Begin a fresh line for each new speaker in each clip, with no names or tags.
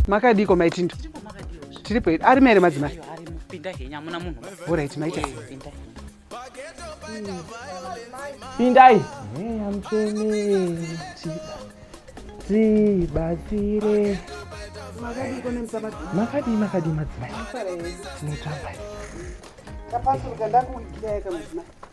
makadiko maitindo tiripo hedu arimo here madzimai
orit maita
pindai mweya mutsvene tibatsire makadii makadii madzimai tinotamba tapasuruka
ndakuitirayaka madzimai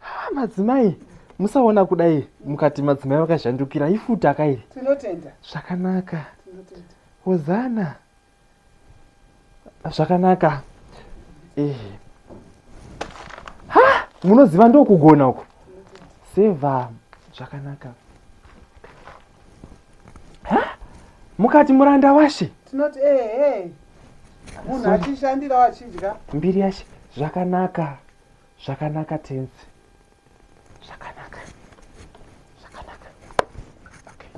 Ha, madzimai musaona kudai mukati madzimai vakazhandukira ifuta ka iri Tinotenda.
zvakanaka
Tinotenda. hozana zvakanaka eh. ha munoziva ndokugona uku seva zvakanaka ha mukati muranda washe Tinoti eh eh.
Munhu achishandira achidya. mbiri yashe
zvakanaka Zvakanaka tenzi. Zvakanaka. Zvakanaka. Okay.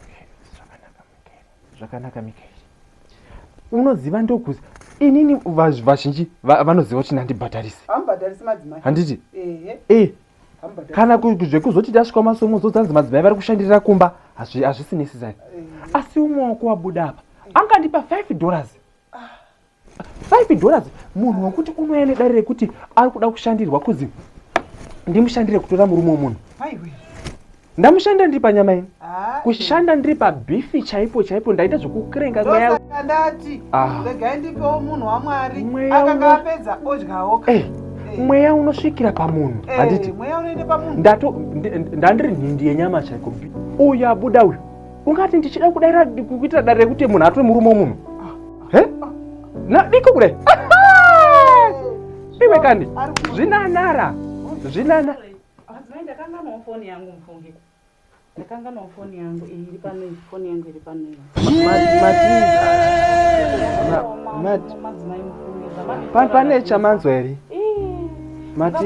Okay, zvakanaka Mikael. Zvakanaka Mikael. Unoziva ndokuzi inini vazhinji vanoziva kuti ndandibhadharisi. Ambhadharisi madzimai.
Handiti? Ehe.
Eh. Kana zvekuzoti tasvika masomo zozanzi madzimai vari kushandirira kumba hazvisi necessary. Eh. Asi umwe wako wabuda apa angandipa 5 dollars. 5 dollars munhu wekuti unouya nedare rekuti ari kuda kushandirwa kuzi ndimushandire kutora murume wemunhu ndamushanda ndiri panyama ini ah, kushanda eh. ndiri pabhifi chaipo chaipo ndaita zvekukurenga mweyaandati ah.
regai ndipewo munhu wamwari akanga apedza odyawo eh, eh. mweya
unosvikira pamunhu handiti
ndandiri
nhindi yenyama chaiko uyu abuda uyu ungati ndichida kudaira kuita dare rekuti munhu atore murume womunhu nadiko kudai iwe kandi zvinanara zvinana
ndakanganwa foni yangu iri pano foni yangu
iri pano pane chamanzwa here mati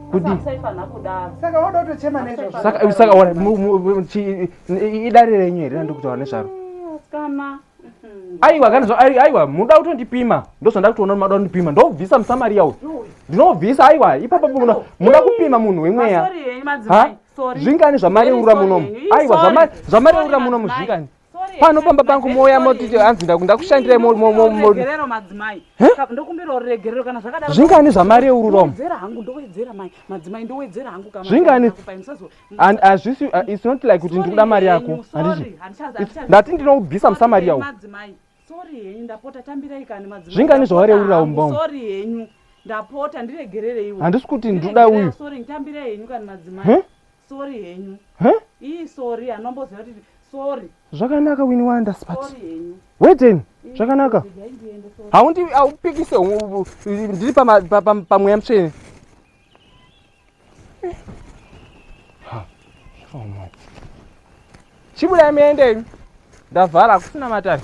kudii
saka woda kutochema nezvosaka
saka wana idare renyu here randikutaura nezvaro
ah, aiwa
kana zva aiwa munoda kutondipima ndozvanda kutoona mada kundipima ndobvisa musamaria uyu ndinobvisa aiwa ipapo munoda kupima munhu wemweya
zvingani zvamareurura
munomu aiwa zvamareurura munomu zvingani pano pamba pangu mouya moti hanzi ndakushandirai
zvingani zvamari yeururomozvingani
its not like kuti ndikuda mari yako handiti ndati ndinoubvisa musamari yawo
zvingani zvawareurira
umbom
handisi kuti ndikuda
uyu
Sorry henyu. Huh? Ii sorry anomboziva kuti sorry. Zvakanaka wini
wanda spat. Sorry henyu.
Weden
zvakanaka. Haundi aupikise ndiri pamweya pa, pa, pa, mutsvene. Ha. Oh my. Chibuda miende. Ndavhara kusina matani.